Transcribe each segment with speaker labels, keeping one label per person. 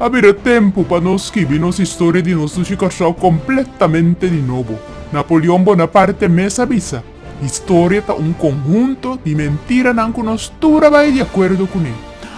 Speaker 1: A bira tempu pa nos skibi nos historia di nos dushi Kòrsou kompletamente di nobo. Napoleon Bonaparte mes a bisa, Historia ta un konhunto di mentiranan ku nos tur a bai di akuerdo kuné.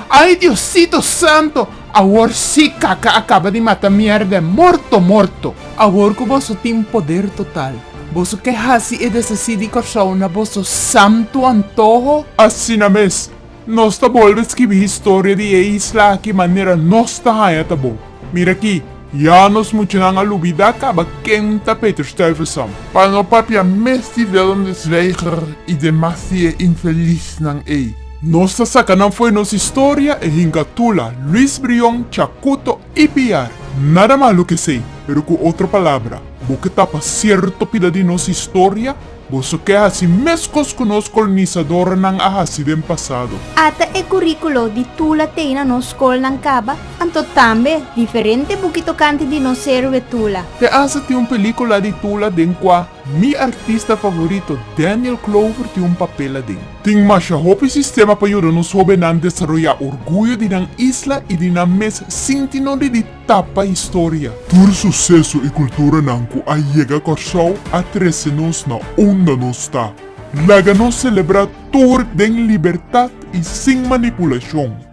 Speaker 1: Ai Diosito Santo! Awor sí kaka a kaba di mata mierda e morto morto! Awor ku boso tin poder total, boso ke hasi e desesí di Kòrsou na boso santu antoho? Asina mes! Nos ta bolbe skirbi historia di e isla aki manera nos ta haña ta bon. Mira aki, Ya nos muchanan a lubida kaba ken ta Peter Stuyvesant. Pa no papia mes di Willem de Zwijger i demas di e infelisnan ei. Nos ta saka nan fo'i nos historia, e hinka Tula, Luis Brion, Chacuto i Piar. Nada malu kesei, pero ku otro palabra, bo ke tapa sierto pida di nos historia? Boso ke hasi meskos ku nos kolonisadornan a hasi den pasado. Ata e kuríkulo di Tula t'ei na nos skolnan kaba, anto tambe diferente buki tokante di nos héroe Tula. Te hasta tin un pelíkula di Tula den kua mi artista favorito Daniel Clover tin un papel aden. Tin masha hopi sistema pa yuda nos hóbennan desaroyá orguyo di nan isla i di nan mes sinti no di di. tapa historia. Tur suseso i kulturanan ku a yega Kòrsou a trese nos na unda nos ta. Laga nos selebrá tur den libertat i sin manipulashon.